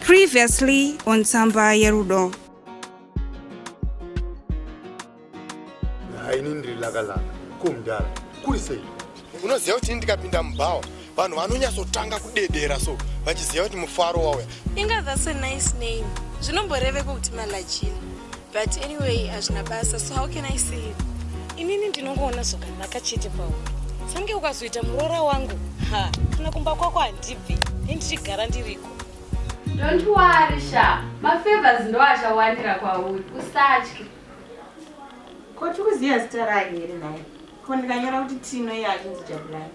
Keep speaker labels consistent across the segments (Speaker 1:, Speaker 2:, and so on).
Speaker 1: Previously on Tsamba Yerudo.
Speaker 2: haini ndiri lakalaka ko mudhara kuri sei unoziva kuti ini ndikapinda mubhawa vanhu vanonyatsotanga kudedera so vachiziva kuti mufaro wauya inga that's a nice
Speaker 3: name zvinomboreveko kuti malajini but anyway hazvina basa so how can i say it inini ndinongoona zvakanaka chete pauri sange ukazoita muroora wangu ha kana kumba kwako handibvi nendichigara ndiriko Don't
Speaker 4: worry sha, mafavors ndo achawandira kwauri, usatye.
Speaker 5: Ko tiri kuziva zita rake here naye? Ko ndikanyora kuti Tino iye achinzi Jabulani.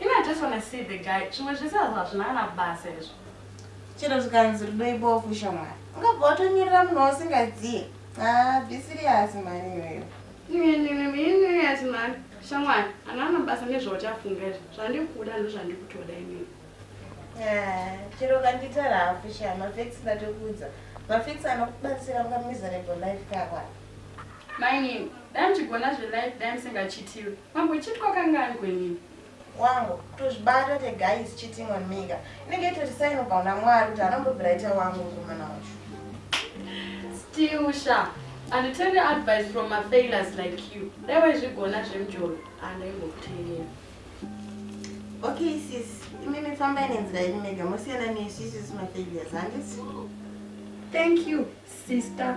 Speaker 4: Ini I just wanna see the guy. Zvimwe zvese hazvo hazvina kana basa izvo. Chero
Speaker 5: zvikanzi rudo ibofu shamwari. Ungabva watonyorera munhu wausingaziye. Ah, be serious mhani iyoyo. Inini ati mhani
Speaker 4: shamwari ana ana basa nezvauchafunga izvo. Zvandikuda ndozvandikutoda inini. Ah,
Speaker 5: chero kanditara hafu sha mafex ndatokuudza. Mafex anokubatsira unga miserable life kakwa.
Speaker 4: Mainini, dai muchigona zvelife dai musingachitiwi. Mambo chit kwakanga ari kwenini? Wangu,
Speaker 5: tozvibata te guys cheating on mega. Inenge itoti sign of Bauna Mwari kuti anombobvira ita wangu kumana wacho.
Speaker 4: Still sha, and tell the advice from my failures like you. Dai waizvigona zvemjolo, andaimbokuteerera.
Speaker 5: Okay sis, imimi fambai nenzira yenyu mega, mosiyana nesu isusu mafailures, handisi? Thank
Speaker 4: you, sister.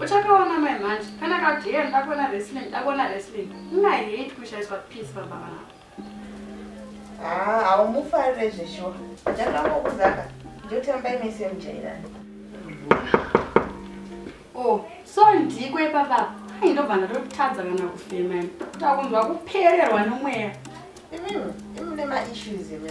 Speaker 4: Uchakaona mai manje kana ka DM ndakona wrestling ndakona wrestling inga hate kushaiswa peace baba vangu. Ah,
Speaker 5: haumufarire zveshuwa. Ndakangokuzaka ndotamba imese mujairani.
Speaker 4: Oh, so ndiko ipapa ai ndobva ndatotadza kana kufema ini. Takunzwa kupererwa nomweya. Imi
Speaker 5: imi nema issues imi.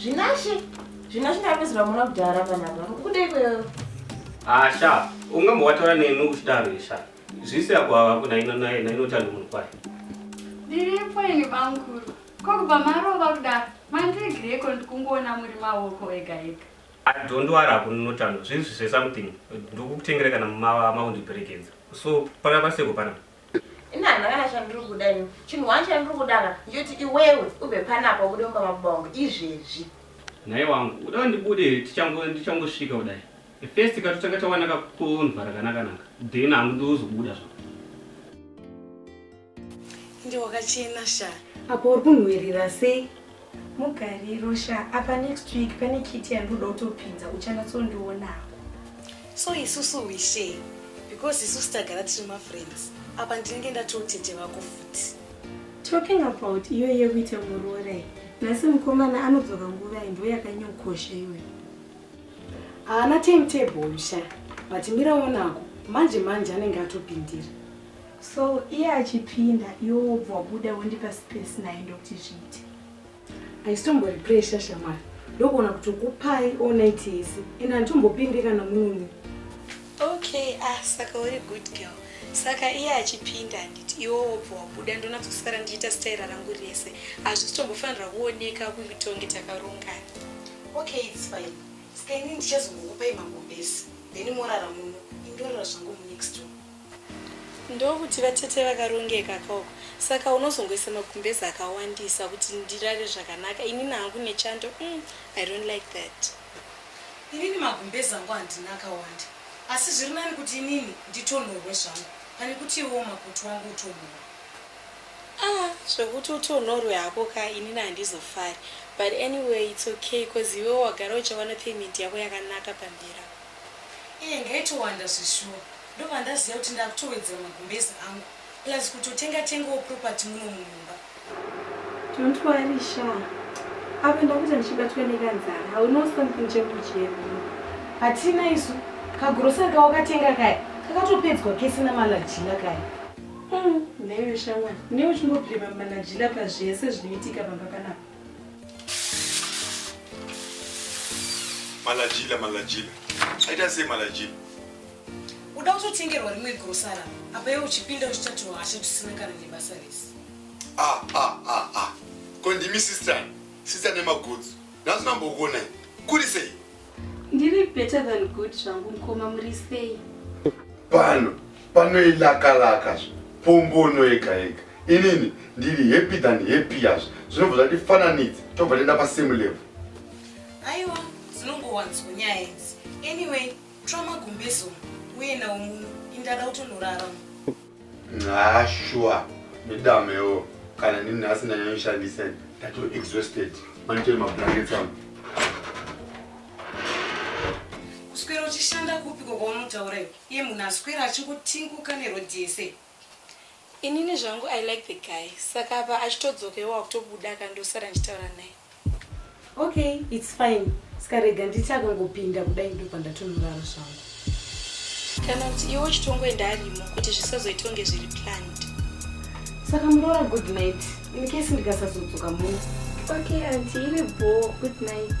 Speaker 4: Zvinashe,
Speaker 5: zvinashe ndapedzera muna kudhara panapa. Kuda ikweyo. Asha,
Speaker 6: ungambowataura neni uchidaro isha. Zvisi yako hava kuna ino naye na inotanda munhu kwaye. Ndiripo
Speaker 4: ini bamkuru. Ko kubva marova kudaro, mandiregereko ndikungoona muri maoko ega ega. I don't worry
Speaker 6: hapo notando. Zvisi zve something. Ndikukutengera kana mama maundiperekedza. So, pana paseko pana. ini handina kana
Speaker 5: chandiri kuda ini chinhu wani chandiri kuda ka ndichoti iwewe ubve panapa ubude mumba mababa wangu izvezvi nhai wangu
Speaker 6: uda ndibude tichangosvika kudai first ka totanga tawana kakunva rakanakanaka then hangu ndoozobuda zva
Speaker 7: ende wakachena
Speaker 3: sha
Speaker 7: apo uri kunhuwirira
Speaker 3: sei Mugariro sha apa next week pane kiti yandoda kutopinza uchanyatsondionako. So isusu we share because isusu tagara tiri mafriends apa ndinenge ndatiwo tete vako futi. Talking about iyo yekuita muroora iyi nhasi mukomana anodzoka nguva iyi ndo yakanyokosha iwe. Haana timetable sha but miraonako manje manje anenge atopindira. So iye achipinda iwe wobva wabuda wondipa space naye ndokuti zviite. Aisitombori pressure shamwari ndokuona kuti ukupai all night yese and handitombopinde kana munomu. Okay, ah saka uri good girl. Saka iye achipinda handiti iwe wobva wabuda ndonatsosara ndichiita staira rangu rese. Hazvisitombofanirwa kuoneka kutonge takarongana. Okay, it's fine. Saka ini ndichazongokupai magombesi then morara muno indorora zvangu munext room. Ndokuti vatete vakarongeka ka uku saka unozongoisa magumbeze akawandisa kuti ndirare zvakanaka inini hangu nechando umm I don't like that. Inini magumbeze angu handina akawanda asi zviri nani kuti inini nditonhorwe zvangu pane kuti iwewo makutu wangu utonhorwe. Ah zvekuti utonhorwe hako ka inini handizofari but anyway it's okay coz iwewo wagara uchiwana payment yako yakanaka pamberi apo. Iye ngaitowanda zveshuwa Ndobva ndaziva kuti ndakutowedzera magumbezi angu plus kutotenga tengawo property muno mumumba. Don't worry Sha. Apa ndakuita ndichibatwa nekanzara. I will know something chekudya. Hatina isu kagrocery kawakatenga kaya kakatopedzwa kese namalajila kaya. Mm, newe shamwari, newe uchingobhirima malajila pazvese zvinoitika pamba panapa.
Speaker 2: Malajila, malajila. Aita sei malajila?
Speaker 3: Uda kutotengerwa rimwe grosara apa iwe uchipinda uchitatiwo hasha tusina kana nebasa rese. Ah ah ah ah.
Speaker 2: Ko ndimi sister, sister nemagudzu. Nhasi nambokuona iyi. Kuri sei? Ndiri
Speaker 3: better than good zvangu mkoma muri sei? Pano
Speaker 2: panoilakalaka zvo. Pombono yega yega. Inini ndiri happy than happy yazvo. Zvinobva zvatifananidza tobva tenda pa same level. Aiwa,
Speaker 3: zinongowanzwa nyaya idzi. Anyway, Tora magumbezo uye nawo muno indada utonorara. Haa shuwa
Speaker 2: nedamewo kana ndini nhasi ndanyanyoshandisa ndato exhausted manitoi mablankets angu
Speaker 3: kuswera uchishanda kupiko kwaunotaura iwe iye munhu aswera achingotinguka nerodhi yese Inini zvangu I like the guy saka apa achitodzoka iwo akutobuda ka ndosara ndichitaura naye. Okay it's fine ska rega nditi akangopinda kudai ndopandatonorara zvangu. Kana kuti iwe uchitongoenda arimo kuti zvisazoita kunge zviri planned. Saka muroora good night in case ndikasazodzoka muno. Okay aunty iri bhoo good night.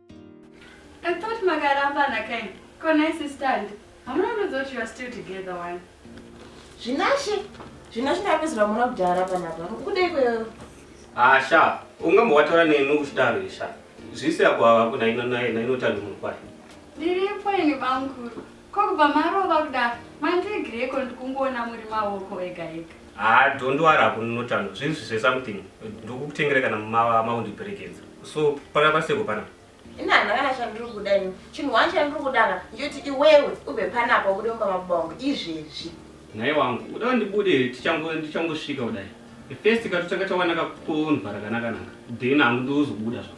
Speaker 4: I thought makarambana kain. Ko nice stand. Hamuna kunodza kuti you are still together one.
Speaker 5: Zvinashe. Zvinashe ndapedzera muna kudhara panapa. Kudei kweyo. Ah sha.
Speaker 6: Ungamba wataura neni uchidaro sha. Zvisi yako hava kuna ino naye na inotandi munhu kwaye. Ndiripo
Speaker 4: ini bamkuru. Ko kubva marova kudaro mandiregereiko ndikungoona muri maoko ega ega. Haa don't
Speaker 6: worry hakuna notando zvinzvi zve something ndokukutengera kana mava maundiperekedza so pana paseko pana. Ini handina kana
Speaker 5: chandiri kuda ini chinhu wani chandiri kuda ka ndiyoti iwewe ubve panapa ubude mumba mababa wangu izvezvi. Nhai wangu
Speaker 6: uda ndibude tichango ndichangosvika kudai first katotanga tawana kakonva rakanaka naka then hangu ndozobuda zvako.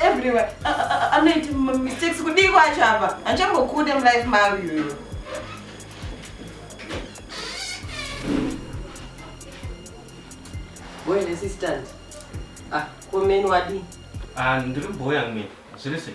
Speaker 6: everywhere
Speaker 5: anoita mistakes kudii kwacho apa hanchambokude mulife mavo iyoyo
Speaker 8: boy nesistant ah komeni wadii ah, ndiri boy
Speaker 6: amene zviri sei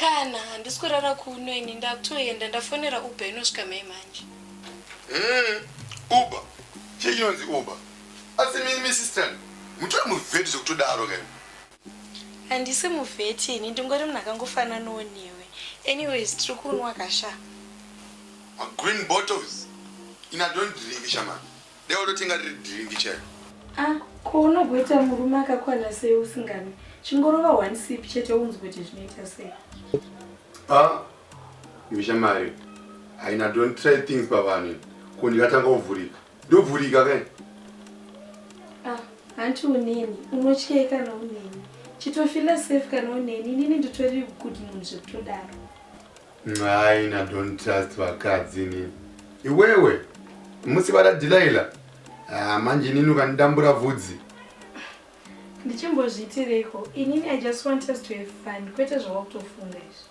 Speaker 3: kana handisi kurara kuno ini ndakutoenda ndafonera uber inosvika mai manje eh,
Speaker 2: uber chii chinonzi uber asi mimi sister mutori muvheti zvekutodaro kaini
Speaker 3: Handisi muVET ini ndingori munhu akangofananawo newe. Anyways tiri kunwa ka sha. Ma
Speaker 2: green bottles ini I don't drink sha mhani. Dai watotenga riri drink chairo. Ah ko
Speaker 3: unogoita murume akakwana sei usinganwi? Chingorova one sip chete unzwe kuti zvinoita sei. Ah
Speaker 2: imi shamari haina don't try things pavanhu ko ndingatanga kuvhurika. ndovhurika kai ah,
Speaker 3: hanti uneni unotyei kana uneni chitofila safe kana uneni inini nditori good munhu zvekutodaro
Speaker 2: nhaina don't trust vakadzi inini iwewe musi vada dilaila ah, manje inini ukandidambura vhudzi ndichimbozviitireiko
Speaker 3: inini i just want us to have fun kwete zvavakutofunga izvi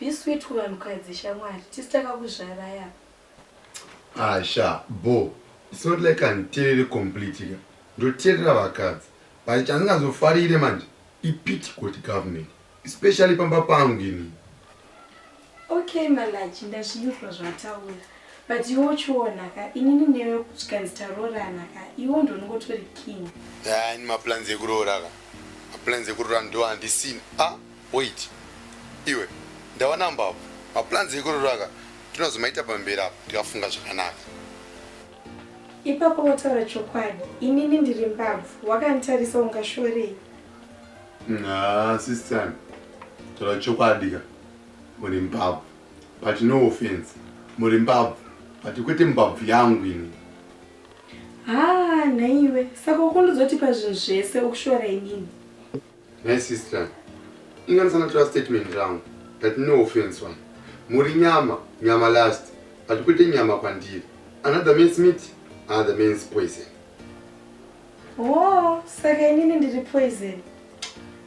Speaker 3: Be sweet kuvanhukadzi shamwari. Tisu takakuzvarai apa. Ah sha bho
Speaker 2: it's not like handiterere completely ka ndoterera vakadzi but chandingazofarire manje ipity kuti government especially pamba pangu ini
Speaker 3: Okay Malachi ndazvinzwa zvawataura but iwe uchiona ka inini newe zvikanzi taroorana ka iwe ndonongotori king. Yaa ini maplans
Speaker 2: ekuroora ka maplans ekuroora ndo handisina ah Wait iwe ndawana mbabvu maplans ekurora aka tinozomaita pamberi apa tikafunga zvakanaka. Ipapo
Speaker 3: wataura chokwadi inini ndiri mbabvu wakanditarisa ungashorei. Haa
Speaker 2: sister taura chokwadi ka muri mbabvu but no offense muri mbabvu but kwete mbabvu yangu ini. Haa
Speaker 3: nhaiwe saka ukundizotipa zvinhu zvese ukushora inini. Nhai
Speaker 2: sister, inganisana tora statement rangu that no offense one. Muri nyama, nyama last, but kwete nyama kwandiri. Another man's meat, another man's poison. Oh,
Speaker 3: saka inini ndiri poison.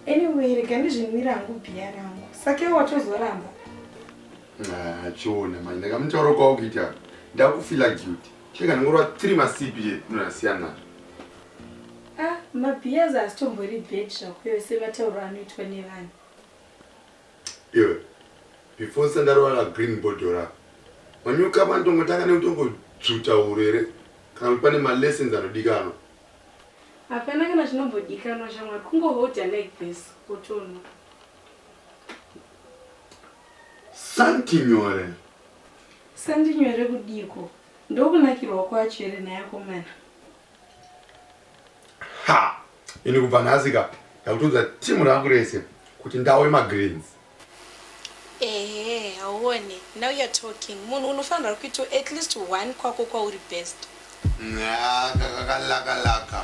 Speaker 3: Anyway, rega ndizvinwira hangu bhiya rangu. Saka iwe watozoramba. Ah, chiona
Speaker 2: manje ndakamutaura kwawo kuita ndakufila guilty. Cheka ndingorwa tiri masipi ye ndinasiyana. Ah,
Speaker 4: mabiyaza asitombori bed zvakuyo sematauro anoitwa nevanhu.
Speaker 2: Iwe. Before sandarwa la green body ra. Wanyuka pantongo taka neutongo dzuta urere. Kana kuti pane ma lessons anodikanwa.
Speaker 4: Hapana kana chinombodikanwa shamwari kungo holder like this wotonwa.
Speaker 2: Santi nyore. Ska
Speaker 4: ndinyore kudiiko ndokunakirwa kwacho here nhai akomana.
Speaker 2: Ha ini kubva nhasi ka ndakutoudza team rangu rese kuti ndawe magreens. Ehe
Speaker 3: hauone now you're talking munhu unofanirwa kuitwa at least one kwako kwauri best. Nyaa kaka kalaka
Speaker 2: laka.